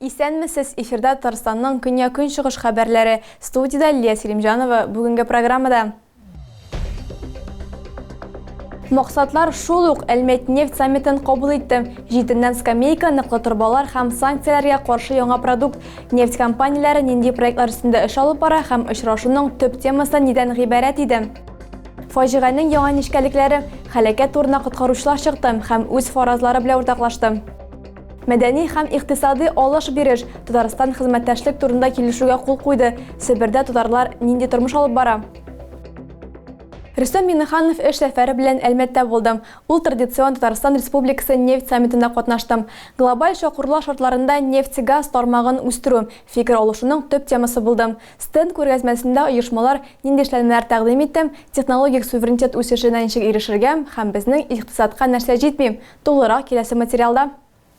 Исәнмесез, эфирда Татарстанның көньяк-көнчыгыш хәбәрләре. Студиядә Лилия Селимҗанова. Бүгенге программада Максатлар шул ук Әлмәт нефть саммитын кабул итте. Җитеннән скамейка, ныклы торбалар һәм санкцияләргә каршы яңа продукт. Нефть компанияләре нинди проектлар өстендә эш алып бара һәм очрашуның төп темасы нидән гыйбарәт иде? Фаҗиганең яңа нечкәлекләре, һәлакәт турына коткаручылар чыкты һәм үз фаразлары белән уртаклашты. Мәдәни һәм икътисадый алыш-биреш, Татарстан хезмәттәшлек турында килешүгә кул куйды, Себердә татарлар нинди тормыш алып бара? Рөстәм Миңнеханов эш сәфәре белән Әлмәттә булды. Ул традицион Татарстан Республикасы нефть саммитында катнашты. Глобаль чокырлар шартларында нефть-газ тармагын үстерү, фикер алышуның төп темасы булды. Стенд күргәзмәсендә оешмалар нинди эшләнмәләр тәкъдим итте, технологик суверенитет үсешенә ничек ирешергә һәм безнең икътисадка нәрсә җитми, Тулырак киләсе материалда.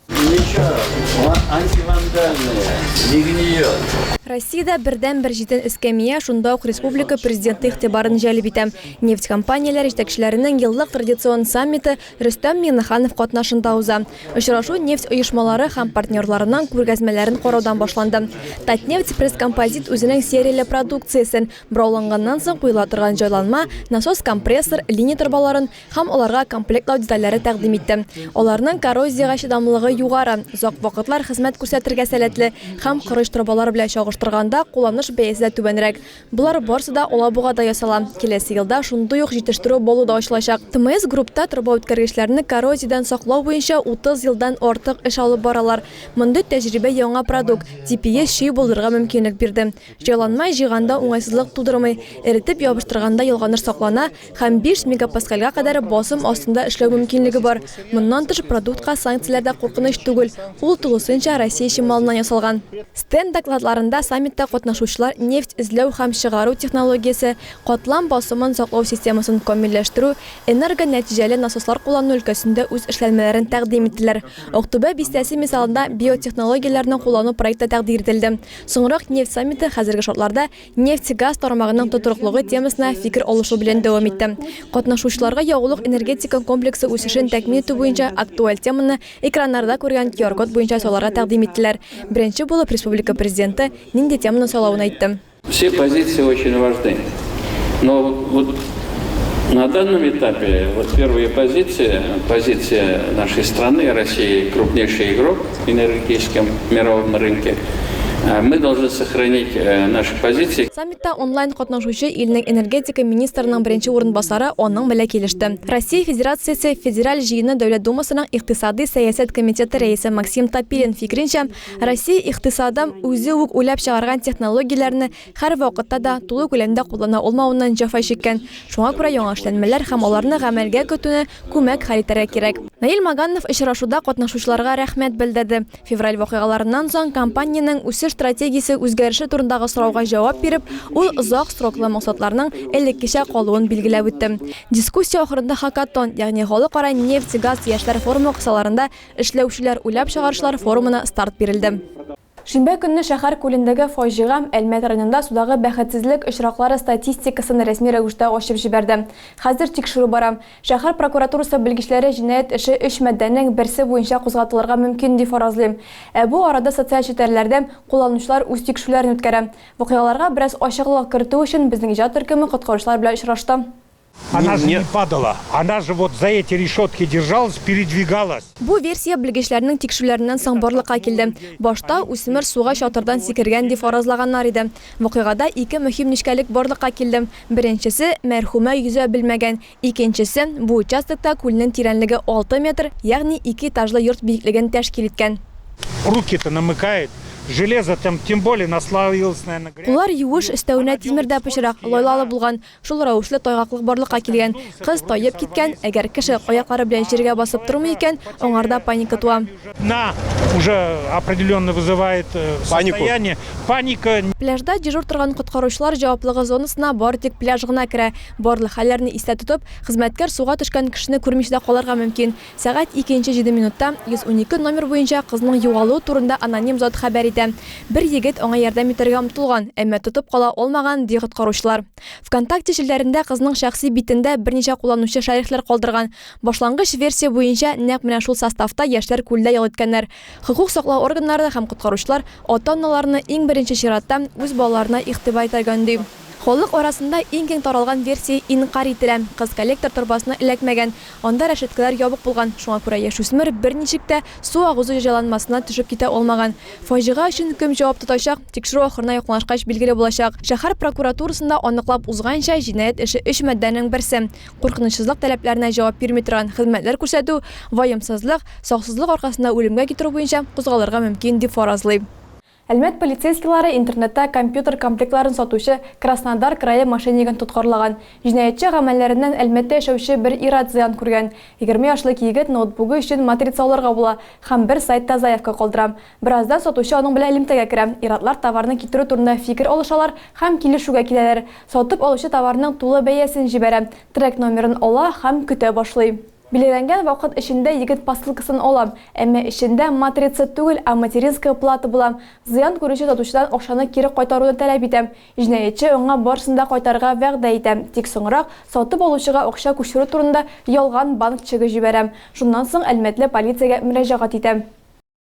Ничего, антивандальная, не гниет. Россиядә бердәнбер җитен эскәмия шунда ук республика президенты игътибарын җәлеп итә. Нефть компанияләре җитәкчеләренең еллык традицион саммиты Рөстәм Миңнеханов катнашында уза. Очрашу нефть оешмалары һәм партнерларының күргәзмәләрен караудан башланды. Татнефть пресс-композит үзенең серияле продукциясен, борауланганнан соң куела торган җайланма, насос-компрессор, линия торбаларын, һәм аларга комплектлау детальләре тәкъдим итте. Аларның коррозиягә чыдамлылыгы югары, озак вакытлар хезмәт күрсәтергә сәләтле һәм корыч торбалар белән чагыштырганда кулланыш бәясе дә түбәнрәк. Болар барысы да Алабугада ясала. Киләсе елда шундый ук җитештерү база да ачылачак. ТМС Группта торбаүткәргечләрне коррозиядән саклау буенча 30 елдан артык эш алып баралар. Мондый тәҗрибә яңа продукт, TPS чөй булдырырга мөмкинлек бирде. Җайланма җыйганда уңайсызлык тудырмый, эретеп ябыштырганда ялганыш саклана, һәм 5 мегапаскальгә кадәр басым астында эшләү мөмкинлеге бар. Моннан тыш, продуктка санкцияләр дә куркыныч түгел, ул тулысынча Россия чималыннан ясалган. Стенд докладларында саммитта катнашучылар нефть эзләү һәм чыгару технологиясе, катлам басымын саклау системасын камилләштерү, энергонәтиҗәле насослар куллану өлкәсендә үз эшләнмәләрен тәкъдим иттеләр. Актүбә бистәсе мисалында биотехнологияләрне куллану проекты тәкъдир ителде. Соңрак нефть саммиты хәзерге шартларда Нефть-газ тармагының тотрыклыгы темасына фикер алышу белән дәвам итте. Катнашучыларга ягулык энергетика комплексы үсешен тәкмин итү буенча актуаль теманы экраннарда күргән QR-код буенча сайларга тәкъдим иттеләр. Беренче булып республика Президенты нинди теманы сайлавын әйтте. Все позиции очень важны. Но вот на данном этапе вот первая позиция, позиция нашей страны, России, крупнейший игрок, энергетическом мировом рынке. Мы должны сохранить наши позиции. Саммитта онлайн катнашучы илнең энергетика министрының беренче урынбасары аның белән килеште. Россия Федерациясе Федераль Җыены Дәүләт Думасының икътисади сәясәт комитеты рәисе Максим Топилин фикеренчә, Россия икътисады үзе үк уйлап чыгарган технологияләрне Хәр вакытта да тулы күләмдә куллана улмауыннан җәфа чиккән. Шуңа күрә яңа эшләнмәләр һәм аларны гамәлгә көтүне күмәк хәл итәргә кирәк. Наил Маганнов очрашуда катнашучыларга рәхмәт белдерде. Февраль вакыйгаларыннан соң компаниянең үсеш стратегиясе үзгәреше турындагы сорауга җавап биреп, ул озак сроклы максатларның элеккечә калуын билгеләп үтте. Дискуссия ахырында Хакатон, ягъни Халыкара нефть-газ яшьләр форумы кысаларында эшләүчеләр уйлап чыгарышлар форумына старт бирелде. Шимбә көнне шәһәр күлендәге фаҗига Әлмәт районында судагы бәхетсезлек очраклары статистикасын рәсми рәвештә ачып җибәрде. Хәзер тикшерү бара. Шәһәр прокуратурасы белгечләре җинаять эше өч маддәнең берсе буенча кузгатылырга мөмкин дип фаразлыйм. Ә бу арада социаль челтәрләрдә кулланучылар үз тикшерүләрен үткәрә. Вакыйгаларга бераз ачыклык кертү өчен безнең иҗат төркеме коткаручылар белән очрашты. Она же не падала, она же вот за эти решетки держалась, передвигалась. Бу версия белгечләрнең тикшерүләреннән соң барлыкка килде. Башта үсмер суга чатырдан сикергән дип фаразлаганнар иде. Вакыйгада ике мөһим нечкәлек барлыкка килде. Беренчесе, мәрхүмә йөзә белмәгән. Икенчесе, бу участокта күлнең тирәнлеге 6 метр, ягъни ике этажлы йорт биеклеген тәшкил иткән. Руки-то намыкает, железо там тем более наслоилось, наверное, грязь. Куллар юеш, өстәвенә тимер дә пычрак, лайлалы булган. Шул рәвешле тайгаклык барлыкка килгән. Кыз таеп киткән, әгәр кеше аяклары белән җиргә басып тормый икән, аңарда паника туа. На уже определенное вызывает состояние, паника. Пляжда дежур торган коткаручылар җаваплыгы зонасына бары тик пляж гына керә. Барлык хәлләрне истә тотып, хезмәткәр суга төшкән кешене күрмичә дә калырга мөмкин. Сәгать икенче җиде минутта 112 номер буенча кызның югалуы турында аноним зат хәбәр итә. Бер егет аңа ярдәм итәргә омтылган, әмма тотып кала алмаган, ди коткаручылар. Вконтакте челтәрендә кызның шәхси битендә берничә кулланучы шәрехләр калдырган. Башлангыч версия буенча, нәкъ менә шул составта яшьләр күлдә ял иткәннәр. Хокук саклау органнары һәм коткаручылар ата-аналарны иң беренче чиратта үз балаларына игътибар итәргә өнди. Халык арасында иң киң таралган версия инкарь ителә, кыз коллектор торбасына эләкмәгән, анда рәшәткәләр ябык булган, шуңа күрә яшүсмер берничек тә су агызу җәҗаланмасына төшеп китә алмаган. Фаҗига өчен кем җавап тотачак, тикшерү ахырына якынлашкач билгеле булачак. Шәһәр прокуратурасында аныклап узганча, җинаять эше өч маддәнең берсе, куркынычсызлык таләпләренә җавап бирми торган хезмәтләр күрсәтү, ваемсызлык, саксызлык аркасында үлемгә китерү буенча кузгалырга мөмкин, дип фаразлый. Әлмәт полицейскийлары интернетта компьютер комплектларын сатучы Краснодар крае мошеннигын тоткарлаган. Җинаятьче гамәлләреннән Әлмәттә яшәүче бер ир-ат зыян күргән. Егерме яшьлек егет ноутбугы өчен матрица алырга була һәм бер сайтта заявка калдыра. Бераздан сатучы аның белән элемтәгә керә, ир-атлар товарны китерү турында фикер алышалар һәм килешүгә киләләр. Сатып алучы товарның тулы бәясен җибәрә, трек номерын ала һәм көтә башлый. Билгеләнгән вакыт эчендә егет посылкасын алам, әмма эчендә матрица түгел, а материнская плата була. Зыян күрүче сатучыдан акчаны кире кайтаруны таләп итәм. Җинаятьче аңа барысын да кайтарырга вәгъдә итә, тик соңрак сатып алучыга акча күчерү турында ялган банк чегы җибәрә. Шуннан соң әлмәтле полициягә мөрәҗәгать итә.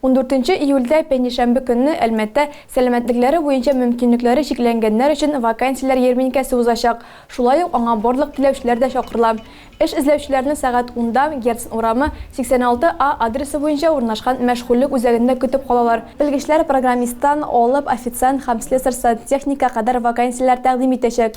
Ундүртенче июльдә, пәнҗешәмбе көнне, Әлмәттә сәламәтлекләре буенча мөмкинлекләре чикләнгәннәр өчен вакансияләр ярминкәсе узачак. Шулай ук аңа барлык теләүчеләр дә чакырыла. Эш эзләүчеләрне сәгать унда, Герцен урамы, 86 А адресы буенча урнашкан мәшгульлек үзәгендә көтеп калалар. Белгечләр программисттан алып официант һәм слесарь-сантехникка кадәр вакансияләр тәкъдим итәчәк.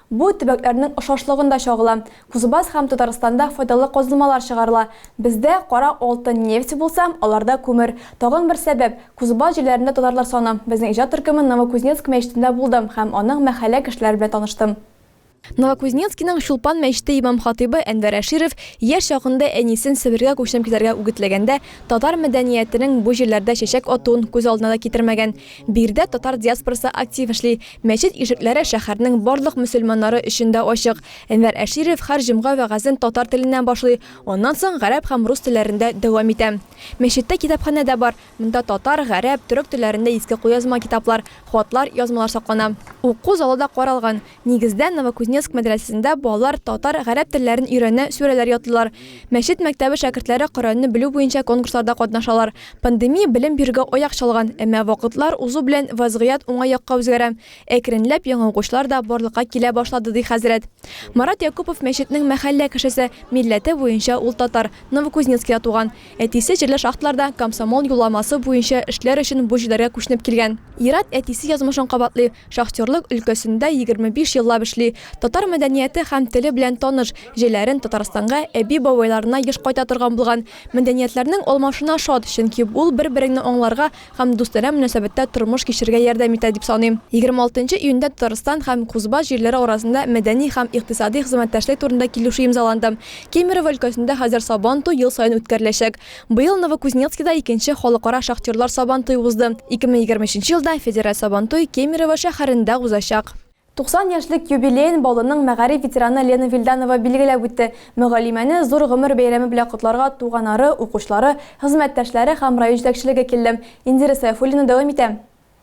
Бу төбәкләрнең охшашлыгын да чагыла. Кузбасс һәм Татарстанда файдалы казылмалар чыгарыла. Бездә кара алтын нефть булса, аларда күмер. Тагын бер сәбәп, Кузбасс җирләрендә татарлар саны. Безнең иҗат төркеме Новокузнецк мәчетендә булдым һәм аның мәхәллә кешеләре белән таныштым. Новокузнецкиның Чулпан мәчете имам-хатыйбы Әнвәр Әширов яшь чагында әнисен Себергә күченеп китәргә үгетләгәндә татар мәдәниятенең бу җирләрдә чәчәк атуын күз алдына да китермәгән. Биредә татар диаспорасы актив эшли. Мәчет ишекләре шәһәрнең барлык мөселманнары өчен дә ачык. Әнвәр Әширов һәр җомга вәгазен татар теленнән башлый, аннан соң гарәп һәм рус телләрендә дәвам итә. Мәчеттә китапханә дә бар, монда татар, гарәп, төрек телләрендә иске кулъязма китаплар, хатлар, язмалар саклана. Уку залы да каралган. Нигездә, Новокузнецк мәдрәсәсендә балалар татар, гарәп телләрен өйрәнә, сүрәләр ятлыйлар. Мәчет мәктәбе шәкертләре Коръәнне белү буенча конкурсларда катнашалар. Пандемия белем бирүгә аяк чалган, әмма вакытлар узу белән вазгыять уңай якка үзгәрә. Әкренләп яңа укучылар да барлыкка килә башлады, ди хәзрәт. Марат Якупов, мәчетнең мәхәллә кешесе. Милләте буенча ул татар, Новокузнецкида туган. Әтисе җирле шахталарда комсомол юлламасы буенча эшләр өчен бу җирләргә күченеп килгән. Ерат әтисе язмышын кабатлый, Шахтерлык өлкәсендә егерме биш еллап эшли, татар мәдәнияте һәм теле белән таныш, җәйләрен Татарстанга, әби-бабайларына еш кайта торган булган. Мәдәниятләрнең алмашына шат, чөнки ул бер-береңне аңларга һәм дустанә мөнәсәбәттә тормыш кичерергә ярдәм итә, дип саныйм. Егерме алтынчы июньдә Татарстан һәм Кузбасс җирләре арасында мәдәни һәм икътисади хезмәттәшлек турында килешү имзаланды. Кемерово өлкәсендә хәзер Сабантуй ел саен үткәреләчәк. Быел Новокузнецкида икенче халыкара шахтерлар Сабантуй узды. 2023 елда федераль Сабантуй Кемерово шәһәрендә узачак. 90 яшьлек юбилеен Баулының мәгариф ветераны Лена Вильданова билгеләп үтте. Мөгаллимәне зур гомер бәйрәме белән котларга туганары, укучылары, хезмәттәшләре һәм район җитәкчелеге килде. Индира Сәйфуллина дәвам итә.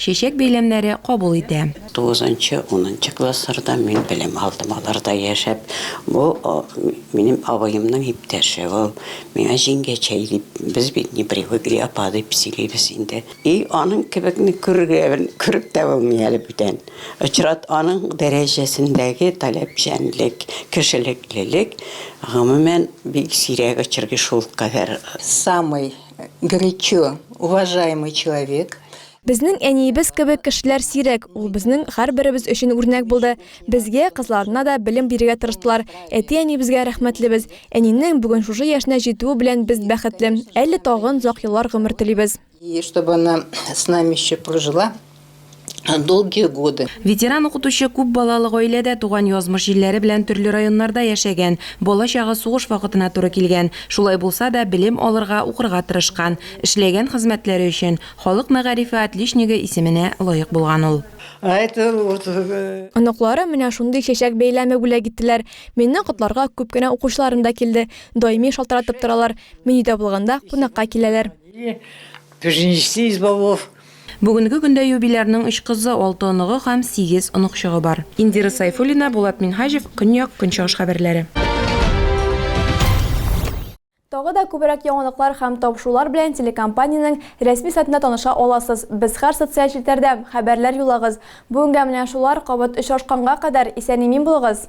Чәчәк бәйләмнәре кабул итә. Тугызынчы, унынчы классларда мин белем алдым. Аларда яшәп, бу минем абыемның иптәше ул. Миңа җиңгәчәй дип, без бит не привыкли, апа дип сөйлибез инде. И аның кебекне күргән, күреп тә булмый әле бүтән. Очрат, аның дәрәҗәсендәге таләпчәнлек, кешелеклелек, гомумән, бик сирәк очрый шулкадәр. Самый Горячо, уважаемый человек. Безнең әниебез кебек кешеләр сирәк, ул безнең һәрберебез өчен үрнәк булды. Безгә, кызларына да белем бирергә тырыштылар. Әти-әнибезгә рәхмәтлебез. Әнинең бүген шушы яшенә җитүе белән без бәхетле. Әле тагын озак еллар гомер телибез. И чтобы она с нами еще прожила долгие годы. Ветеран укытучы күп балалы гаиләдә туган, язмыш җилләре белән төрле районнарда яшәгән, бала-чагы сугыш вакытына туры килгән. Шулай булса да, белем алырга, укырга тырышкан. Эшләгән хезмәтләре өчен Халык мәгарифе отличнигы исеменә лаек булган ул. Оныклары менә шундый чәчәк бәйләме бүләк иттеләр. Мине котларга күп кенә укучыларым да килде. Даими шалтыратып торалар. Мин өйдә булганда кунакка киләләр. Бүгенге көндә юбилярның өч кызы, алты оныгы һәм сигез оныкчыгы бар. Индира Сайфуллина, Булат Минһаҗев, Көньяк, Көнчыгыш хәбәрләре. Тагы да күбрәк яңалыклар һәм табышулар белән телекомпаниянең рәсми сайтында таныша аласыз. Без һәр социаль челтәрдә, хәбәрләр юллагыз. Бүгенгә менә шулар, кабат очрашканга кадәр, исән-имин булыгыз!